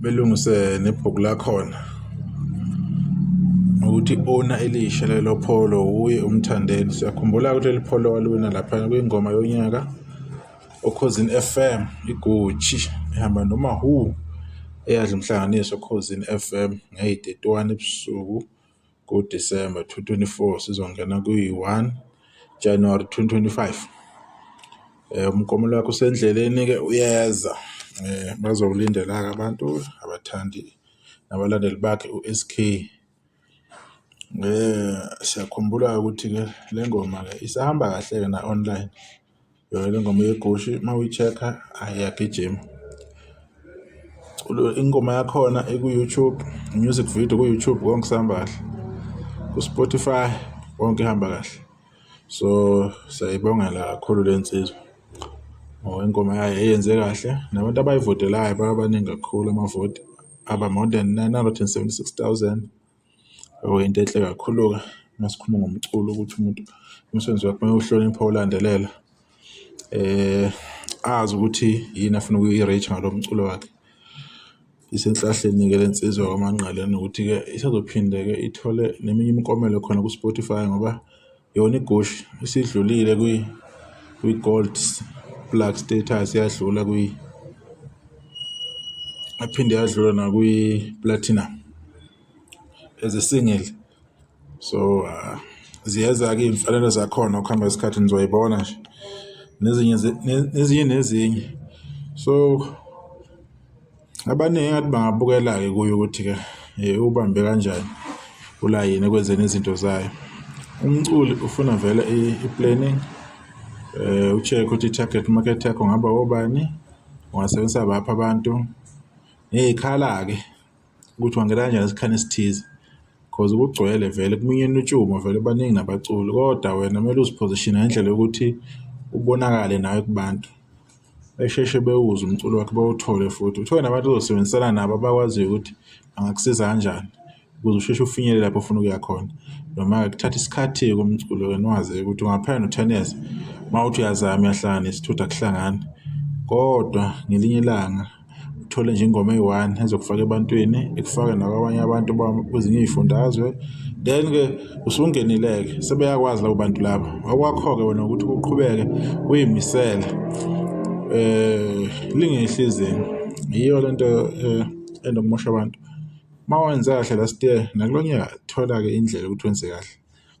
belungise nebhuku lakhona ukuthi ona elisha lelo pholo wuye umthandeni siyakhumbula ukuthi leli pholo waliwina lapha kwingoma yonyaka okhozini FM igucci ehamba noma who eyadla umhlanganiso okhozini FM ngeyidetwani ebusuku kuDisemba 2024 sizongena kwi-1 January 2025. Eh umkomelo wakho usendleleni ke uyeza. Eh bazowulindela ke abantu abathandi nabalandeli bakhe uSK. Eh siyakhumbula ukuthi ke lengoma ke isahamba kahle ke na online. yona le ngoma yegushi uma uyi-check-a ayi yagijima Ulo- ingoma yakhona iku-youtube music video ku-youtube konke sihamba kahle ku-spotify konke ihamba kahle so siyayibongela kakhulu le nsizwa ngoba ingoma yayo eyenze kahle nabantu abayivotelayo baba baningi kakhulu amavoti aba more than 976000 Oh, into enhle kakhulu-ke uma sikhuluma ngomculo ukuthi umuntu umsebenzi wakhe uma uhlonipha ulandelela um azi ukuthi yini afuna ukuyi-reach ngalo mculo wakhe. Isenhlahleni-ke le nsizwa kaManqele nokuthi-ke isazophinde-ke ithole neminye imikomelo khona ku-Spotify ngoba. Yona iGushi isidlulile kwi kwi-gold plug status yadlula kwi aphinde yadlula nakwi-platinum as a single so uh, ziyeza-ke iy'mfanelo zakhona ukuhamba isikhathi nizoyibona nje nezinye nezinye nezinye so abaningi ngathi bangabukela-ke kuyo ukuthi-ke um ubambe kanjani ulayini ekwenzeni izinto zayo umculi ufuna vele i-planning um ucheck ukuthi i-target market yakho ngaba obani ungasebenzisa baphi abantu ngiyikhala-ke ukuthi wangena kanjani esikhani esithize because kugcwele vele kuminyene utshumo vele baningi nabaculi kodwa wena kumele uziphozishine ngendlela yokuthi ubonakale nawe kubantu besheshe bewuze umculo wakhe bawuthole futhi uthole nabantu ozosebenzisana nabo abakwaziyo ukuthi angakusiza kanjani ukuze usheshe ufinyelele lapho ofuna ukuya khona noma-ke kuthatha isikhathi-ke komculo wena wazi ukuthi ungaphaya no-ten years uma uthi uyazama uyahlangana isithutha kuhlangani kodwa ngelinye ilanga uthole nje ingoma eyi-one ezokufaka ebantwini ikufake nakwabanye abantu kwezinye iy'fundazwe then-ke usungenile-ke sebeyakwazi labo bantu laba okwakho-ke wena ukuthi uqhubeke uyimisele um eh, lingehli izinga yiyo le nto um eh, endokumosha abantu uma wenze kahle last year nakulo nyaka thola-ke indlela ukuthi wenze kahle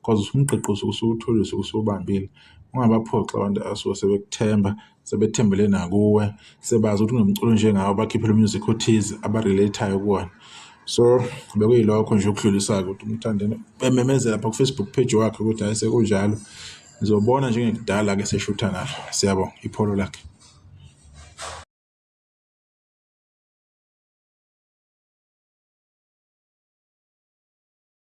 cause usuke usuwutholile usuke usuwubambile. Ungabaphoxi abantu abasuke sebekuthemba, sebethembele nakuwe, sebazi ukuthi unomculo onjengawe, bakhiphele u-music othize aba-relate-ayo kuwona. So bekuyilokho nje okudlulisayo ukuthi umthandeni bememezela pha ku-Facebook page wakhe ukuthi hayi sekunjalo. Ngizobona njengekudala-ke seshutha nalo. Siyabonga, ipholo lakhe.